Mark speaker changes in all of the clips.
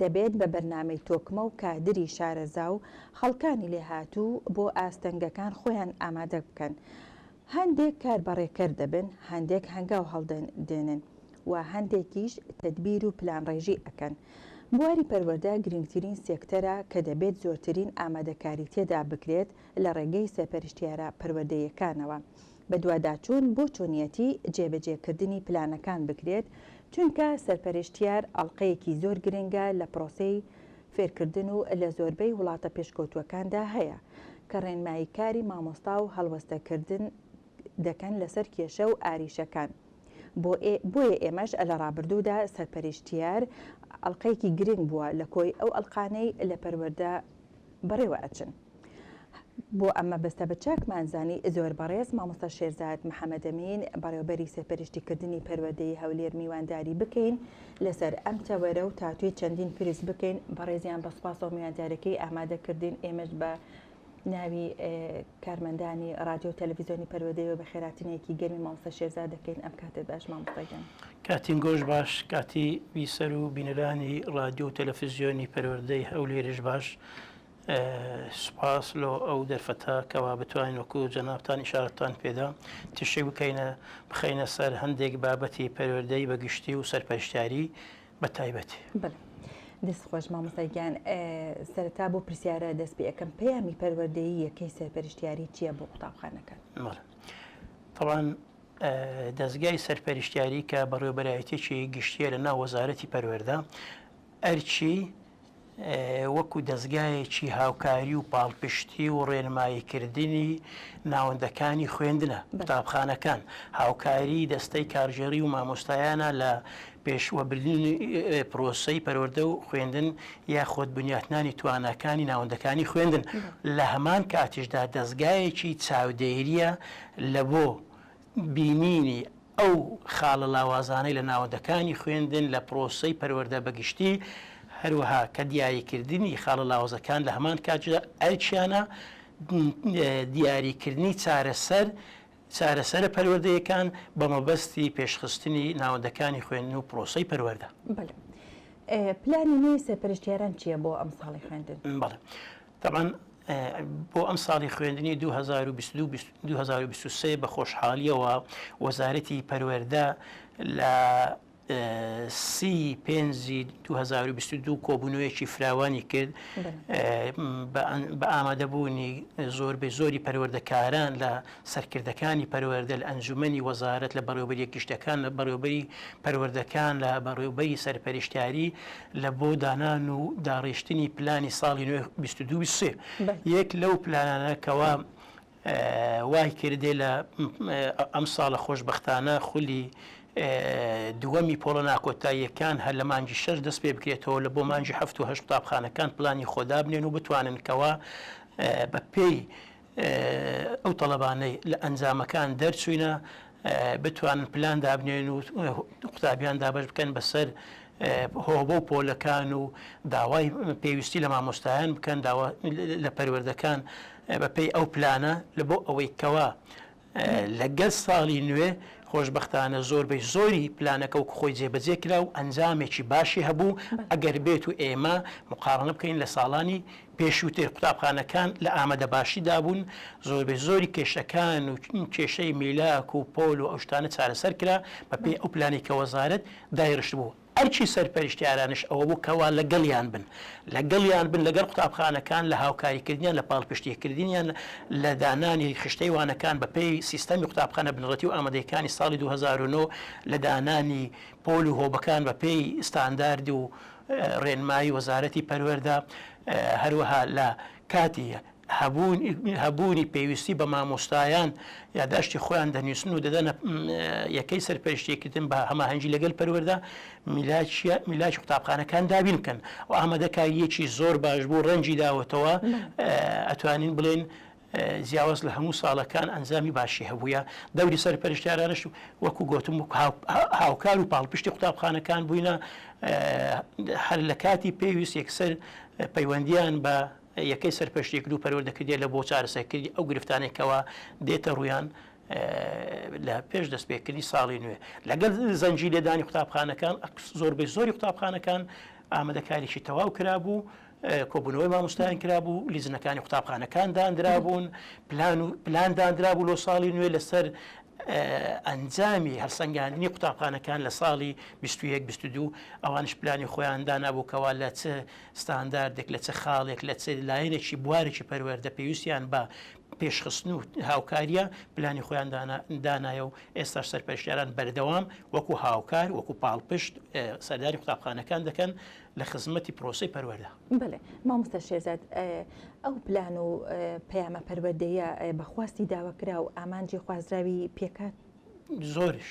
Speaker 1: دەبێت بە بەرنامەی تۆکمە و کادری شارەزا و خەڵکانی لێهاتوو بۆ ئاستەنگەکان خۆیان ئامادە بکەن. هەندێک کار بەڕێکەر دەبن، هەندێک هەنگاو هەڵدێنن و هەندێکیش تەدبیر و پلانڕێژی ئەکەن. بواری پەروەردە گرینگترین سێکتەرە کە دەبێت زۆرترین ئامادەکاری تێدا بکرێت لە ڕێگەی سەرپەرشتیارە پەروەردەییەکانەوە. بەدواداچوون بۆ چۆنیەتی جێبەجێکردنی پلانەکان بکرێت، چونکە سەرپەرشتیار ئەڵقەیەکی زۆر گرنگە لە پرۆسەی فێرکردن و لە زۆربەی وڵاتە پێشکەوتووەکاندا هەیە کە ڕێنمایی کاری مامۆستا و هەڵوەستەکردن دەکەن لەسەر کێشە و ئاریشەکان بۆیە ئێمەش لە ڕابردوودا سەرپەرشتیار ئەڵقەیەکی گرنگ بووە لە کۆی ئەو ئەڵقانەی لە پەروەردە بەڕێوە ئەچن. بۆ ئەم مەبەستە بە چاکمان زانی زۆر بەڕێز مامۆستا شێرزاد محەمەدەمین بەڕێوبەری سەرپەرشتی کردنی پەروەردەی هەولێر میوانداری بکەین لەسەر ئەم تەوەرە و تاتوی چەندین پرس بکەین بەڕێزیان بە سوپاسەوە میواندارەکەی ئامادە کردین ئێمەش بە ناوی کارمەندانی رادیۆ و تەلەڤیزیۆنی پەروەدەیەوە بە خێراتنێکی گەرمی مامۆستا شێرزاد دەکەین ئەم کاتت باش مامۆستا گیان کاتین گۆش
Speaker 2: باش کاتی بیسەر و بینەرانی رادیۆ و تەلەفزیۆنی پەروەردەی هەولێرش باش سوپاس لۆ ئەو دەرفەتە کەوا بتوانین وەکو جەنابتان ئیشارەتتان پێدا تیشک بکەینە بخەینە سەر هەندێک بابەتی پەروەردەی بە گشتی و سەرپەرشتیاری بە تایبەتی. بەڵێ دەست
Speaker 1: خۆش مامۆستا گیان سەرەتا بۆ پرسیارە دەست پێ ئەکەم پەیامی پەروەردەیی یەکەی سەرپەرشتیاری چییە بۆ قوتابخانەکان؟ بەڵێ
Speaker 2: تەبان دەزگای سەرپەرشتیاری کە بەڕێوەبەرایەتیی گشتییە لە ناو وەزارەتی پەروەردە ئەرکی وەکو دەزگایەکی هاوکاری و پاڵپشتی و ڕێنماییکردنی ناوەندەکانی خوێندنە قوتابخانەکان هاوکاری دەستەی کارژێری و مامۆستایانە لە پێشوەبردنی پرۆسەی پەروەەردە و خوێندن یاخۆت بنیاتنانی توانەکانی ناوەندەکانی خوێندن لە هەمان کاتیشدا دەستگایەکی چاودێریە لە بۆ بینینی ئەو خاڵە لاوازانەی لە ناوەندەکانی خوێندن لە پرۆسەی پەروەردە بە گشتی، هەروەها کە دیاریکردنی خاڵە لاوازەکان لە هەمان کاتژدا ئەرکیانە، دیاریکردنی چارەسەر چارەسەرە پەروەردەیەکان بە مەبەستی پێشخستنی ناوەندەکانی خوێندن و پرۆسەی پەروەردە. بەڵێ.
Speaker 1: پلانی نوێی سەرپەرشتیاران چییە بۆ ئەمساڵی خوێندن؟ بەڵێ. تەبعەن
Speaker 2: بۆ ئەم ساڵی خوێندنی دوو هەزار و بیست و دوو بیست و دوو هەزار و بیست و سێ بە خۆشحاڵییەوە وەزارەتی پەروەردە لە سی پێنجی دوو هەزار و بیست و دوو کۆبوونەوەیەکی فراوانی کرد بە ئامادەبوونی زۆربەی زۆری پەروەردەکاران لە سەرکردەکانی پەروەردە لە ئەنجومەنی وەزارەت لە بەڕێوبەری گشتەکان لە بەڕێوبەری پەروەردەکان لە بەڕێوبەری سەرپەرشتیاری لە بۆ دانان و داڕیشتنی پلانی ساڵی نوێ بیست و دوو بیست و سێ بەل. یەک لەو پلانانە کەوا ئە وای کردێ لە ئە ئەم ساڵە خۆشبەختانە خولی ئە دووەمی پۆڵە ناکۆتاییەکان هەر لە مانگی شەش دەست پێ بکرێتەوە لە بۆ مانگی هەفت و هەشت قوتابخانەکان پلانی خۆ دابنێن و بتوانن کەوا ئە بە پێی ئەو تەڵەبانەی لە ئەنجامەکان دەرچووینە بتوانن پلان دابنێن و قوتابیان دابش بکەن بەسەر هۆبە و پۆلەکان و داوای پێویستی لە مامۆستایان بکەن لە پەروەردەکان بەپی ئەو پلانە لە بۆ ئەوەی کەوا لەگەل ساڵی نوێ خۆشبەختانە زۆر بەی زۆری پلانەکە وەکو خۆی جێبەجێ کرا و ئەنجامێکی باشی هەبوو ئەگەر بێت و ئێمە مقارنە بکەین لە ساڵانی پێشووتر قوتابخانەکان لە ئامەدە باشی دابوون زۆر بەی زۆری کێشەکان و کێشەی میلاک و پۆل و ئەو شتانە چارەسەر کرا بە پێی ئەو پلانی کە وەزارەت دایرشت بوو ئەرکی سەرپەرشتیارانش ئەوەبوو کەوا لەگەڵیان بن، لەگەڵیان بن لەگەڵ قوتابخانەکان لە هاوکاریکردنیان لە پاڵپشتیکردنیان لە دانانی خشتەی وانەکان بەپێی سیستەمی قوتابخانە بنەڕەتی و ئامادەیەکانی ساڵی دوو هەزار و نۆ لە دانانی پۆل و هۆبەکان بەپێی ستاندارد و رێنمایی وەزارەتی پەروەردە هەروەها لە کاتی هەبوونی پێویستی بە مامۆستایان یاداشتی خۆیان دەنووسن و دەدەنە یەکەی سەرپەرشتێکردن بە هەماهەنگی لەگەل پەروەەردە میلاکی قوتابخانەکان دابین بکەن و ئامادەکاریەکی زۆر باش بوو ڕەنجی داوەتەوە ئەتوانین بڵێن جیاواز لە هەموو ساڵەکان ئەنجامی باشی هەبووە دەوری سەر پەرشتارانش وەکو گوتم هاوکار و پاڵپشتی قوتابخانەکان بووینە هەر لە کاتی پێویست یەکسەر پەیوەندیان بە یەکەی سەرپەرشتیکرد و پەروەردە کردیە لە بۆ چارەسەرکردنی ئەو گرفتانەی کەوا دێتە ڕوویان لە پێش دەستپێکردنی ساڵی نوێ لەگەل زەنجی لێدانی قوتابخانەکان زۆربەی زۆری قوتابخانەکان ئامادەکاریی تەواو کرابوو کۆبوونەوەی مامۆستایان کرابوو لیزنەکانی قوتابخانەکان دانرابوون پلان و پلان دانرابوو لۆ ساڵی نوێ لەسەر ئەنجامی هەرسەنگاندنی قوتابخانەکان لە ساڵی 2022 ئەوانش پلانی خۆیان دانابووکەوە لە چ ستانداردێک لە چ خاڵێک لە چ لایەنێکی بوارێکی پەروەردە پێویستیان بە پێشخستن و هاوکاریە پلانی خۆیان دانایە و ئێستاش سەرپەرشتیاران بەردەوام وەکو هاوکار وەکو پاڵپشت سەرداری قوتابخانەکان دەکەن لە خزمەتی پرۆسی پەروەەردە بڵێ مامۆستا
Speaker 1: شێزاد ئەو پلان و پەیامە پەروەردەیە بەخواستی داوەکرا و ئامانجی خوازراوی پێکات زۆرش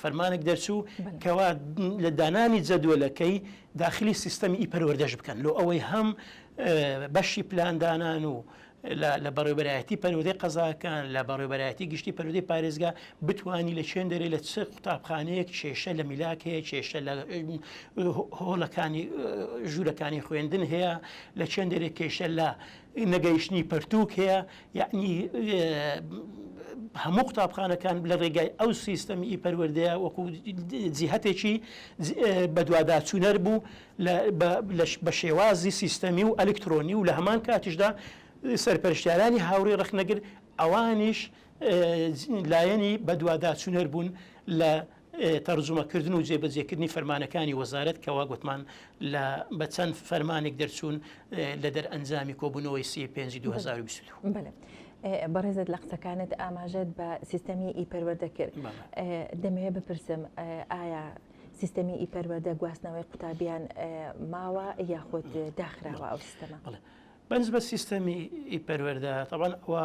Speaker 2: فەرمانێک دەرچوو کەوا لە دانانی جەدوەلەکەی داخلی سیستەمی ئی پەروەردەش بکەن لۆ ئەوەی هەم بەشی پلاندانان و لە بەڕێبەرایەتی پەرودەی قەزاکان لە بەڕێبەرایەتی گشتی پەرودەی پارێزگا بتانی لە چێن دەرێ لە چ قوتابخانەیەک کێشە لە میلاک هەیە کێشە لە هۆڵەکانی ژوورەکانی خوێندن هەیە لە چێن دەرێ کێشە لە نەگەیشتنی پەرتووک هەیە یەعنی هەموو قوتابخانەکان لە ڕێگای ئەو سیستەمی ئی پەروەردەیە وەکو جیهەتێکی بەدواداچوونەر بوو بە شێوازی سیستەمی و ئەلکترۆنی و لە هەمان کاتیشدا سەرپەرشتیارانی هاوڕێ ڕەخنەگر ئەوانیش لایەنی بەدواداچوونەر بوون لە تەرجومەکردن و جێبەجێکردنی فەرمانەکانی وەزارەت کە وا گوتمان لە بە چەند فەرمانێک دەرچوون لە دەرئەنجامی کۆبوونەوەی سی پێنجی 2022.
Speaker 1: بەڕێزت لە قسەکانت ئاماژەت بە سیستەمی ئی پەروەردە کرد دەمەوێت بپرسم ئایا سیستەمی ئی پەروەردە گواستنەوەی قوتابیان ماوە یاخود داخراوە ئەو سیستەمە بەنج بە
Speaker 2: سیستەمی ئی پەروەردە تەوان ئەوە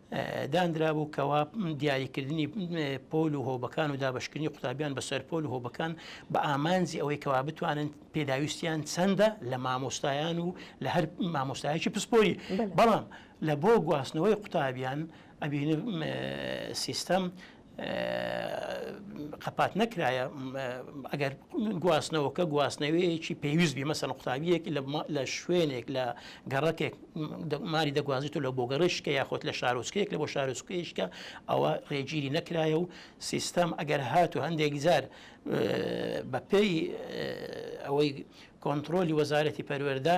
Speaker 2: داندرابوو کەوا دیاریکردنی پۆل و هۆبەکان و دابشکردنی قوتابیان بەسەر پۆل و هۆبەکان بە ئامانجی ئەوەی کەوا بتوانن پێداویستیان چەندە لە مامۆستایان و لە هەر مامۆستایەکی پسپۆری بەڵام لە بۆ گواستنەوەی قوتابیان ئەبین سیستەم قەپات نەکرایە ئەگەر گواستنەوەکە گواستنەوەیەکی پێویست بی مەسەن قوتابیەک لە شوێنێک لە گەڕەکێک ماری دەگوازیت و لە بۆ گەڕشکە یاخۆت لە شارۆچکەیەک لە بۆ شارۆچکەیشکە ئەوە ڕێگیری نەکرایە و سیستەم ئەگەر هات و هەندێک جار بەپێی ئەوەی کۆنتترۆلی وەزارەتی پەروەەردە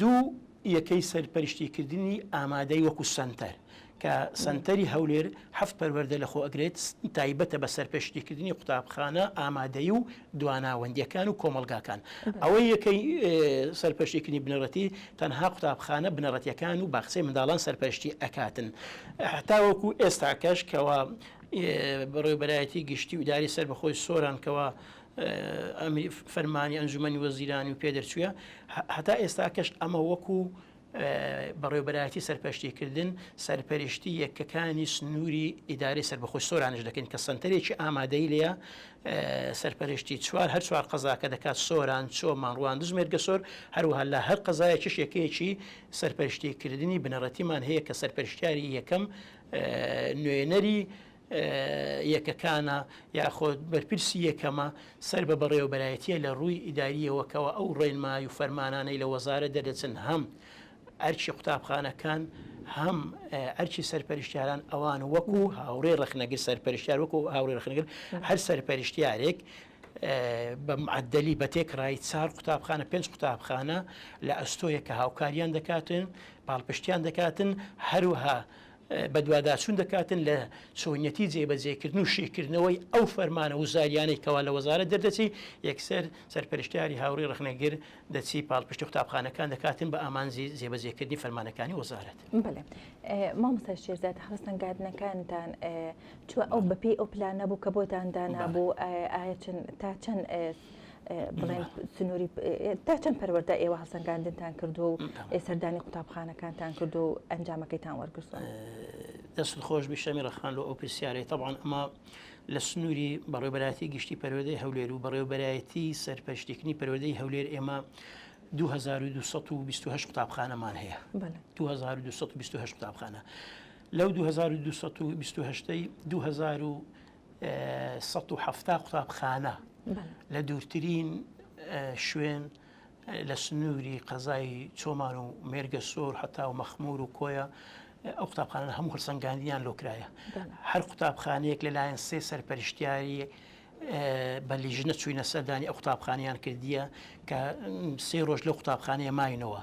Speaker 2: دوو یەکەی سەرپەرشتیکردنی ئامادەی وەکو سەنتەر، کە سەنتەری هەولێر هەفت پەروەردە لەخۆ ئەگرێت تایبەتە بە سەرپەرشتیکردنی قوتابخانە ئامادەیی و دواناوەندییەکان و کۆمەڵگاکان. ئەوەی یەکەی سەرپەرشتیکردنی بنەڕەتی تەنها قوتابخانە بنەڕەتییەکان و باخچەی منداڵان سەرپەرشتی ئەکاتن تاوەکو ئێستاکەش کەوا بەڕێوبەرایەتی گشتی و ئیداری سەربەخۆی سۆران کەوا فەرمانی ئەنجومەنی وەزیرانی و پێدەچووە هەتا ئێستاکەش ئەمە وەکو بەڕێوبەرایەتی سەرپەشتیکردن سەرپەرشتی یەکەکانی سنووری ئیداری سربەخۆش سۆرانش دەکەن کە سنتەرێکی ئامادەی لە سەرپەرشتی چوار هەر چوار قەزاکە دەکات سۆران چۆ ماڕوان دژمێرگە سۆر هەروها لە هەر قەزایەکیش یەکەیەکی سەرپەرشتیکردنی بنەڕەتیمان هەیە کە سەرپەرشتیاری یەکەم نوێنەری یەکەکانە یاخود بەرپرسی یەکەمە سەر بە بەڕێوەبەرایەتیە لە ڕووی ئیداریەوە کەوا ئەو ڕێنمای و فەرمانانەی لە وەزارەت دەردەچن هەم ئەرکی قوتابخانەکان هەم ئەرکی سەرپەرشتیاران ئەوان وەکو هاوڕێ ڕخنەگر سەرپەرشتیار وەکو هاوڕێ ڕخنگر هەر سەرپەرشتیارێک بە معدلی بە تێکڕای چار قوتابخانە پێنج قوتابخانە لە ئەستۆیە کە هاوکاریان دەکاتن پاڵپشتیان دەکاتن هەروها بەدواداچوون دەکاتن لە چۆنیەتی جێبەجێکردن و شیکردنەوەی ئەو فەرمانە وزاریانەی کەوا لە وەزارەت دەردەچی، یەکسەر سەرپەرشتیاری هاوری ڕەخنەگر دەچی پاڵپشتی قوتابخانەکان دەکاتن بە ئامانجی جێبەجێکردنی فەرمانەکانی وەزارەت. بەڵێ
Speaker 1: مامۆستا شێرزاد هەڵسەنگاردنەکانتان چ ئەو بەپێی ئەو پلانە بوو کە بۆتان دانابوو؟ ئایا تا چەند بڵێن سنووری تا چەند پەروەەردە ئێوە هەسەنگاندنتان کردو و سەردانی قوتابخانەکانتان کردو و ئەنجامەکەیتان وەرگرتوە دەست
Speaker 2: خۆش بیشەمی ڕخان لە ئەو پرسیارەی تەبان ئەمە لە سنووری بەڕێبەراتی گشتی پەروەدەی هەولێر و بەڕێوبەرایەتی سەرپەشتێکنی پەروەدەی هەولێر ئێمە 2228 قوتابخانەمان هەیە 2228 قوتابخانە لەو 2228 سەد و حەفتا قوتابخانە لە دوورترین شوێن لە سنووری قەزای چۆمان و مێرگە سۆر حتا و مەخمور و کۆیە ئەو قوتابخانە هەم هەرسەنگاندیان لۆکرایە هەر قوتابخانەیەک لەلایەن سێ سەرپەرشتیاری بە لیژنە چوینە سەردانی ئە قوتابخانیان کردیە کە سێ ڕۆژ لە قوتابخانەیە ماینەوە.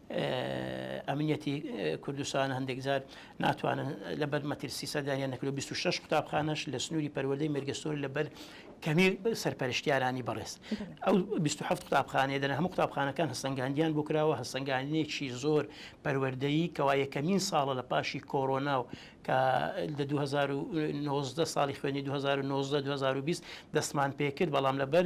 Speaker 2: ئەمنیەتی کوردستان هەندێکجار ناتوانن لەبەر مەترسی سەدانیان نەکرد 26 قوتابخانەش لە سنووری پەروەدەی مێرگستۆر لەبەر کەمی سەرپەرشتیارانی بەڕێز ئەو 27 قوتابخانەیە دەن هەموو قوتابخانەکان هەستنگاندیان بۆ کراوە هەستنگانێکی زۆر پەروەردەیی کەوا یەکەمین ساڵە لە پاشی کۆرۆنا و کە لە 2019 ساڵی خوێنی 2019 2020 دەستمان پێکرد بەڵام لەبەر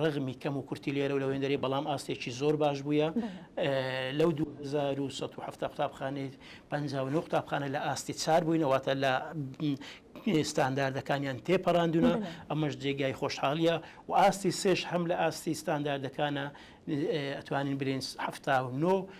Speaker 2: ڕەغمی کەم و کورتی لێرە و لە وێندەری بەڵام ئاستێکی زۆر باش بووە لەو 1970 قوتابخانەی 59 قوتابخانە لە ئاستی چار بووینەوەتە لە ستانداردەکانیان تێپەڕاندونە ئەمەش جێگای خۆشحاڵیە و ئاستی سێش هەم لە ئاستی ستانداردەکانە ئەتوانین برنج هەفتا و نۆ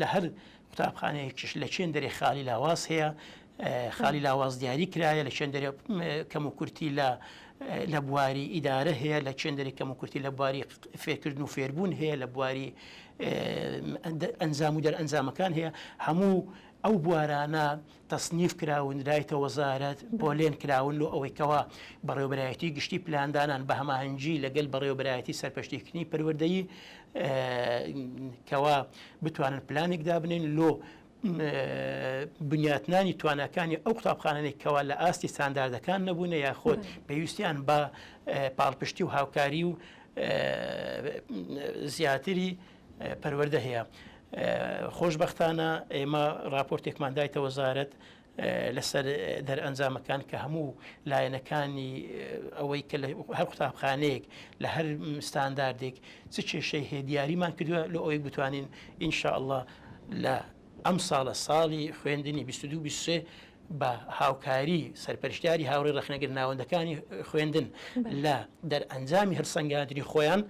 Speaker 2: لە هەر قوتابخانەیەکیش لە چێندەرێ خالی لاواز هەیە خالی لاواز دیاری کرایە لە چێندەرێ کەم و کورتی لە لە بواری ئیدارە هەیە لە چێندەری کەم و کورتی لە بواری فێرکردن و فێربوون هەیە لە بواری ئەنجام و دەرئەنجامەکان هەیە هەموو ئەو بوارانە تەسنیف کراون لایتە وەزارەت پۆلێن کراون لۆ ئەوەی کەوا بەڕێوەبەرایەتی گشتی پلاندانان بە هەماهەنگی لەگەل بەڕێوەبەرایەتی سەرپەشتیکردنی پەروەردەیی کەوا بتوانن پلانێک دابنێن لۆ بنیاتنانی تواناکانی ئەو قوتابخانەی کەوا لە ئاستی ستانداردەکان نەبوونە یا خۆت پێویستیان بە پاڵپشتی و هاوکاری و زیاتری پەروەردە هەیە. خۆشبەختانە ئێمە ڕاپۆرتێکمان دایتە وەزارەت لەسەر دەرئەنجامەکان کە هەموو لایەنەکانی ئەوەی کە هەر قوتابخانەیەک لە هەر ستانداردێک چ کێشەی هەیە دیاریمان کردووە لە ئەوەی بتوانین ئینشاءله لە ئەم ساڵە ساڵی خوێندنی 2223 بە هاوکاری سەرپەرشتیاری هاوڕی ڕخنەگر ناوەندەکانی خوێندن لە دەرئەنجامی هەرسەنگادری خۆیان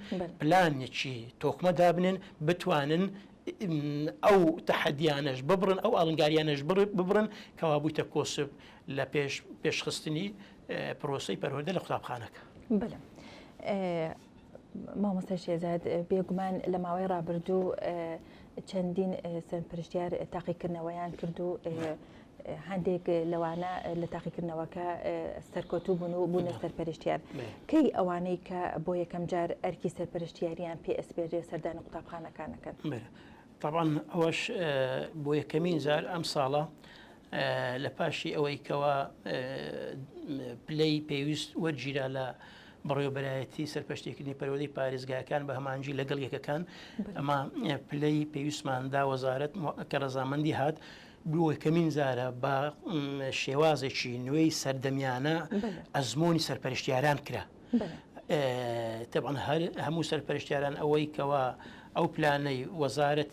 Speaker 2: پلانێکی تۆکمە دابنێن بتوانن ئەو تەحەدیانەش ببرن ئەو ئەڵنگاریانەش ببرن کەوا بوویتە کۆسب لە پێش پێشخستنی پرۆسی پەرۆدە لە قوتابخانەکە بلم.
Speaker 1: مامۆستا شێزاد بێگومان لە ماوەی ڕابردوو چەندین سەرپرشتیار تاقیکردنەوەیان کرد و هەندێک لەوانە لە تاقیکردنەوەکە سەرکۆتوو بوون و بوونە سەرپەرشتیان کەی ئەوانەی کە بۆ یەکەم جار ئەرکی سەرپەرشتیاریان پێ ئەسپێرێ سەردانی قوتابخانەکانەکەن طبعاً
Speaker 2: ئەوەش بۆ یەکەمین جار ئەم ساڵە لە پاشی ئەوەی کەەوە پلەی پێویست وەرگیرا لە بەڕێوەبەرایەتی سەرپەشتیکردنی پەروەردەی پارێزگاکان بە هەمانجی لەگەڵ یەکەکان ئەمە پلەی پێویستمان دا وەزارەت کە ڕزامەندی هات بووە کەمین زارە بە شێوازێکی نوێی سەردەمیانە ئەزمموی سەرپەرشتیاران کرا تەبان هەر هەموو سەرپەرشتیاران ئەوەی کەوا ئەو پلانەی وەزارەت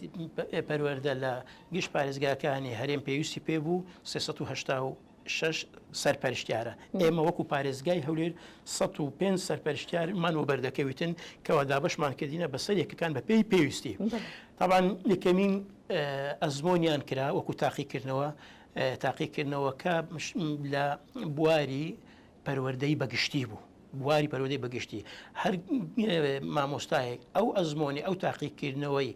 Speaker 2: پەروەەردە لە گشت پارێزگاکانی هەرێم پێویستی پێ بوو 380 شەش سەرپەرشتیارە، ئێمە وەکو پارێزگای هەولێر سەد و پێنج سەرپەرشتیارمان وەبەردەکەویتن کەوا دابەشمان کردینە بەسەر یەکەکان بەپێی پێویستی تابان یەکەمین ئەزمۆنیان کرا وەکو تاقیکردنەوە تاقیکردنەوەکە لە بواری پەروەردەی بە گشتی بوو بواری پەرۆدەی بەگشتی هەر مامۆستایەک ئەو ئەزمۆنی ئەو تاقیکردنەوەی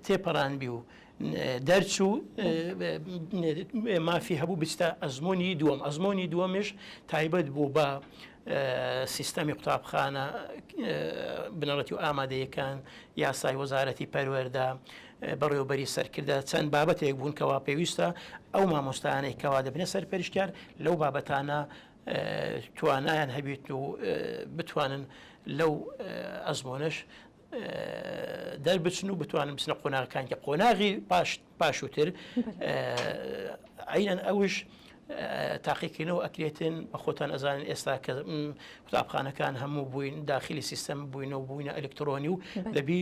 Speaker 2: تێپەڕانبی و دەرچوو مافی هەبوو بچتە ئەزمموی دووەم ئەزمموی دووەمش تایبەت بوو بە سیستەمی قوتابخانە بنەڕەتی و ئامادەیەکان یاسای وەزارەتی پەروەەردا بەڕێوەبەری سەرکردە چەند بابەتێک بوون کەوا پێویستە ئەو مامۆستایانەی کەوا دەبنە سەرپەرشتیار لەو بابەتانە توانایان هەبیت و بتوانن لەو ئەزمۆنش دەربچن و بتوانن بچنە قۆناغەکان کە قۆناغی پاش پاشوتر عینەن ئەوش تاقیکردنەوە ئەکرێتن بە خۆتان ئەزانن ئێستا کە قوتابخانەکان هەموو بووین داخلی سیستەم بووینەوە بووینە ئەلکترۆنی و دەبی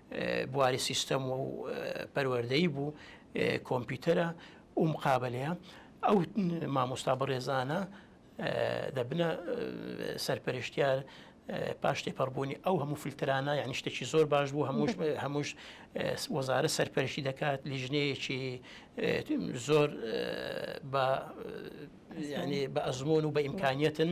Speaker 2: بواری سیستەم و پەروەردەی بوو کۆمپیوتەرە و مقابلەیە ئەو مامۆستا بەڕێزانە دەبنە سەرپەرشتیار پاش تێپەڕبوونی ئەو هەموو فلترانە یعنی شتێکی زۆر باش بوو هەمووش هەمووش وەزارە سەرپەرشی دەکات لیژنەیەکی زۆر بە بە ئەزمۆن و بە ئیمکانیەتن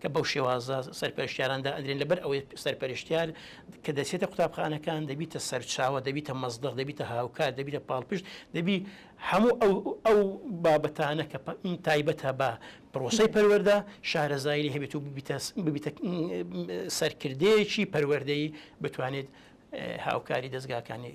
Speaker 2: کە بەو شێوازە سەرپەرشتیاران دائەنرێن، لەبەر ئەوەی سەرپەرشتیار کە دەچێتە قوتابخانەکان دەبیتە سەرچاوە، دەبیتە مەزدەق، دەبیتە هاوکار، دەبیتە پاڵپشت، دەبی هەموو ئەو بابەتانە کە تایبەتە بە پرۆسەی پەروەردە، شارەزایی لێ هەبێت و ببیتە سەرکردەیەکی پەروەردەیی بتوانێت هاوکاری دەزگاکانی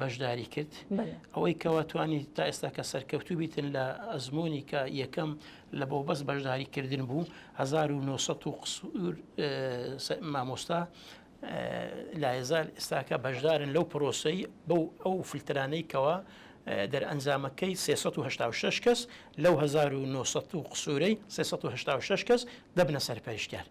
Speaker 2: بەشداری کرد ئەوەی کەوا توانی تا ئێستا کە سەرکەوتوو بیتن لە ئەزمموی کە یەکەم لە بۆ بەس بەشداریکردن بوو 1970 مامۆستا لایزال ئێستاکە بەشدارن لەو پرۆسی بەو ئەو فلترانەی کەوا دەرئەنجامەکەی 386 کەس لەو 1970 قسوورەی 386 کەس دەبنە سەرپەرشتیان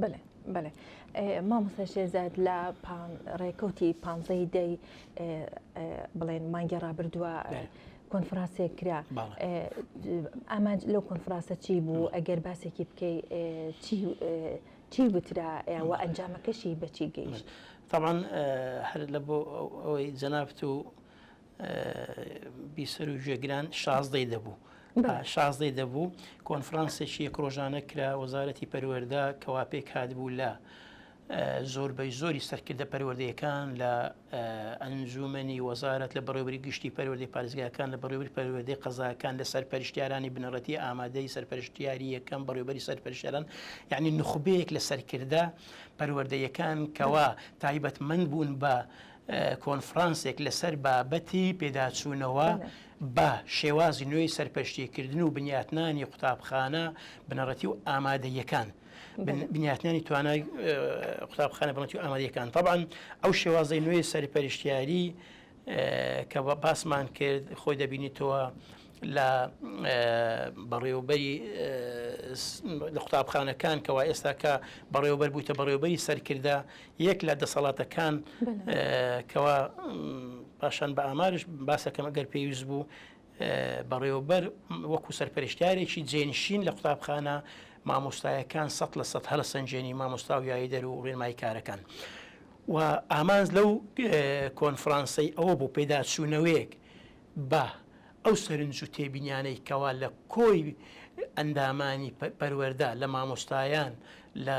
Speaker 1: بەێ بەێ مامۆستا شێزاد لە ڕێکوتی پانزەی دەی بڵێن مانگی ڕابردووە کۆنفراسێک کرا ئامانج لەو کۆنفراسە چی بوو ئەگەر باسێکی بکەی چی وترا و ئەنجامەکەشی بەچی گەیشت تاوان
Speaker 2: هەر لە بۆ ئەوەی جەنابت و بیسەر و گوێگران شازدەی دەبوو شازدەی دەبوو کۆنفرانسێکی یەک ڕۆژانە کرا وەزارەتی پەروەەردا کەوا پێک هاتبوو لە زۆربەی زۆری سەرکردە پەروەردەیەکان لە ئەنجومنی وەزارت لە بەڕێوبری گشتی پەروەردی پارێزگاکان لە بەڕێوبری پەروەردەی قەزاکان لە سەرپەرشتیارانی بنەڕەتی ئامادەی سەرپەرشتیاری یەکەم بەڕێوبەری سەرپەرشتیاران یعنی نخبەیەک لە سەرکردە پەروەردەیەکان کەوا تایبەتمەند بوون بە کۆنفرانسێک لەسەر بابەتی پێداچوونەوە بە شێوازی نوێی سەرپەرشتیکردن و بنیاتنانی قوتابخانە بنەڕەتی و ئامادەیەکان بنیاتنانی توانای قوتابخانە بڵەتی و ئامادەکان طبعاان ئەو شێوازی نوێی سەرپەرشتیاری کە بە باسمان کرد خۆی دەبینیتەوە لە بەڕێوبەری لە قوتابخانەکان کەوا ئێستاکە بەڕێوبەر بووتە بەڕێوبەری سەرکردە یەک لە دەسەڵاتەکان کەوا پاشان بە ئامارش باسەکەم ئەگەر پێویست بوو بەڕێوەبەر وەکو سەرپەرشتارێکی جێنشین لە قوتابخانە مامۆستایەکان سە لە سە هەلە سنجێنی مامۆستا و یایی دەر و ڕێنمای کارەکان و ئامانز لەو کۆنفرانسی ئەوە بوو پێداچوونەوەیەک بە ئەو سەرنج و تێبینیانەی کەوا لە کۆی ئەندامانی پەروەردە، لە مامۆستایان، لە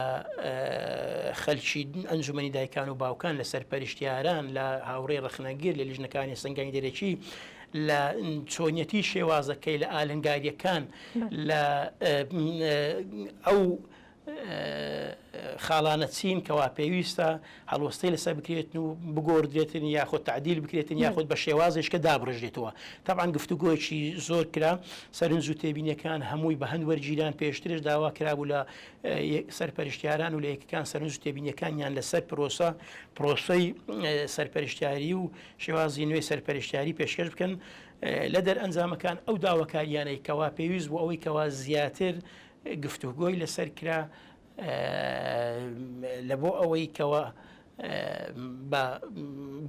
Speaker 2: خەلکی ئەنجومەنی دایکان و باوکان، لە سەرپەرشتیاران، لە هاوڕێی ڕەخنەگر، لە لیژنەکانی سەنگانی دەرەکی، لە چۆنیەتی شێوازەکەی، لە ئالنگاریەکان، لە ئەو خاڵانە چین کەوا پێویستە هەڵوەستەی لەسەر بکرێتن و بگۆردرێتن یاخود تعدیل بکرێتن یاخود بە شێوازیشکە دابڕژێتەوە تاوان گفتوگۆیەکی زۆر کرا سەرنج و تێبینەکان هەمووی بە هەند وەرگیران پێشترش داوا کرابوو لە سەرپەرشتیاران و لە یەکەکان سەرنج و تێبینەکانیان لەسەر پرۆسە پرۆسەی سەرپەرشتیاری و شێوازی نوێی سەرپەرشتیاری پێشکەش بکەن لە دەر ئەنجامەکان ئەو داواکاریانەی کەوا پێویست بۆ ئەوەی کەوا زیاتر گفتوگۆی لەسەر کرا لە بۆ ئەوەی کەوە بە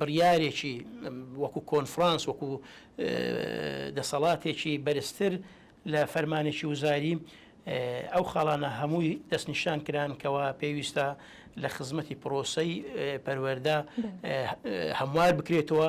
Speaker 2: بڕیارێکی وەکو کۆنفرانس وەکو دەسەڵاتێکی بەرزتر لە فەرمانێکی وزاری ئەو خاڵانە هەمووی دەستنیشان کران کەەوە پێویستە لە خزمەتی پرۆسی پەروەەردە هەموار بکرێتەوە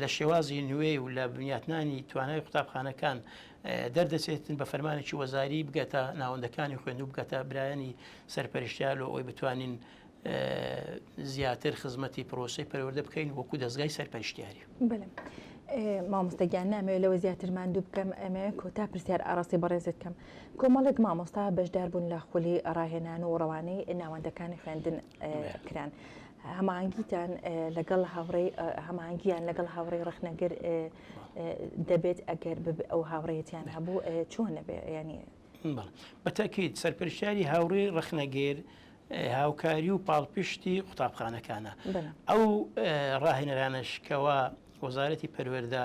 Speaker 2: لە شێوازی نوێ و لە بنیاتنانی توانای قوتابخانەکان دەردەچێتن بە فەرمانێکی وەزاری بگەتە ناوەندەکانی خوێندو بگەتە برایانی سەرپەرشتیار لۆ ئەوی بتوانین زیاتر خزمەتی پرۆسی پەروەەردە بکەین وەکو دەستگای سەرپەرشتیاری مامۆستەگیان
Speaker 1: نامەوێت لەوە زیاتر ماندوو بکەم ئەمێ کۆتا پرسیار ئاراسی بەڕێزت کەم کۆمەڵێک مامۆستا بەشدار بوون لە خولی ڕاهێنان و ڕەوانەی ناوەندەکانی خوێندن کران هەمانگیتان لەگەڵ هاوڕێ هەمانگیان لەگەڵ هاوڕێ ڕخنەگر دەبێت ئەگەر ئەو هاوڕێتیان هەبوو چۆن نەبێ ینی بەتەکیت
Speaker 2: سەرپەرشتیاری هاوڕێ ڕخنەگەر هاوکاری و پاڵپشتی قوتابخانەکانە ئەو ڕاهێنەرانشکەوە وەزارەتی پەروەەردە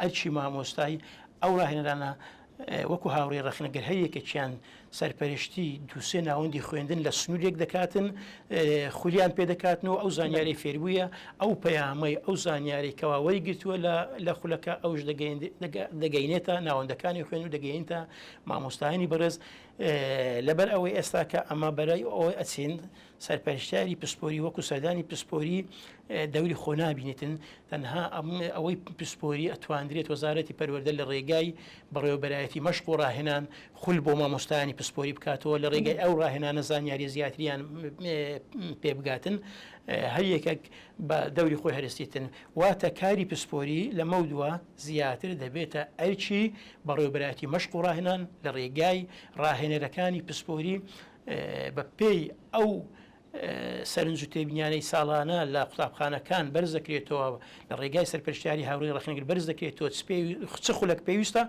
Speaker 2: ئەرکی مامۆستای ئەو راهێنەرانە وەکو هاوڕێ رەخنە گەر هەر یەکێکیان سەرپەرشتی دووسێ ناوەندی خوێندن لە سنوورێک دەکاتن خولیان پێدەکاتن و ئەو زانیاری فێربووە ئەو پەیامەی ئەو زانیاری کەواوەی گرتووە لە خولەکە ئەوش دەگەینێتە ناوەندەکانی خوێن و دەگەینتە مامۆستایانی بەڕێز لەبەر ئەوەی ئێستاکە ئەمە بەرای ئەوەی ئەچین سەرپەرشتیاری پسپۆری وەکو سەردانی پسپۆری دەوری خۆ نابینێتن تەنها ئەوەی پسپۆری ئەتواندرێت وەزارەتی پەروەەردە لە ڕێگای بەڕێوەبەرایەتی مەشق و ڕاهێنان خول بۆ مامۆستانی پسپۆری بکاتەوە لە ڕێگای ئەو ڕاهێنانە زانیاری زیاتریان پێبگاتن هەر یەکێک بە دەوری خۆی هەرستیتن واتە کاری پسپۆری لە مەودووە زیاتر دەبێتە ئەرچی بەڕێوەبەرایەتی مەشق و ڕاهێنان لە ڕێگای ڕاهێنەرەکانی پسپۆری بە پێی ئەو سەرنج و تێبینیانەی ساڵانە لە قوتابخانەکان بەرز دەکرێتەوە لە ڕێگای سەرپەرشتیاری هاوڕێی ڕەخنەگر بەرز دەکرێتەوە چ خولەک پێویستە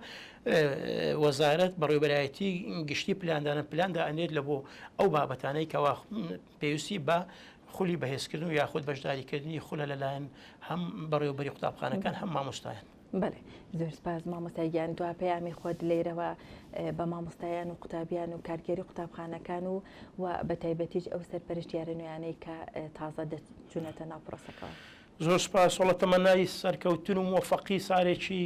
Speaker 2: وەزارەت بەڕێوبەرایەتی گشتی پلاندانە پلان دائەنێت لە بۆ ئەو بابەتانەی کەوا پێویستی بە خولی بەهێزکردن و یاخود بەشداریکردنی خولە لەلایەن هەم بەڕێوبەری قوتابخانەکان هەم مامۆستایان بەڵێ زۆر
Speaker 1: سپاس مامۆستا گیان دوا پەیامی خۆت لێرەوە بە مامۆستایان و قوتابیان و کارگەری قوتابخانەکان و و بە تایبەتیش ئەو سەرپەرشتیارە نوێیانەی کە تازە دەچونەتە ناو پرۆسەکەەوە زۆر سپاس
Speaker 2: وڵە تەمەنای سەرکەوتن و مۆفەقی سارێکی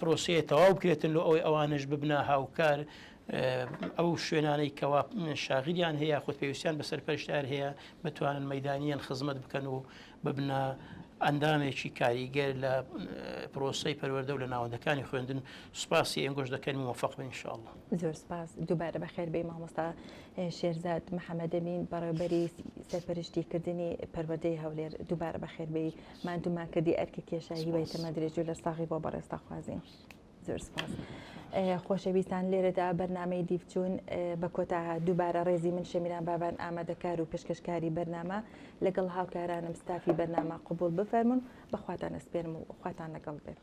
Speaker 2: پرۆسەیە تەواو بکرێتن لۆ ئەوەی ئەوانش ببنە هاوکار ئەو شوێنانەی کەوا شاغلیان هەیە خود پێویستیان بە سەرپەرشتار هەیە بتوانن مەدانیان خزمەت بکەن و ببنە ئەندامێکی کاریگەر لە پرۆسی پەروەەردە و لە ناوەندەکانی خوێندن سوپاسی ئەنگۆش دەکەن و مەفق بنشاڵ زۆر سپاس
Speaker 1: دووبارە بە خێربەی مامۆستا شێرزاد محەممەدەمین بەڕێوبەری سەرپەرشتی کردنی پەروەدەی هەولێر دووبارە بە خێربەی ماندوو ماکردی ئەرکە کێشا هیوای تەمە درێژ و لە ساغی بۆ بەڕێستا خوازین زۆر سپاس خۆشەویستان لێرەدا بەرنمەی دیفچون بە کۆتا دووبارە ڕێزی من شەمیران بابان ئامادەکار و پێشکەشکاری بەرنامە لەگەڵ هاوکارانم ستافی بەرنامە قوبول بفەرمونون بەخواتان ئەسپێرم و خواتان لەگەڵ بێت.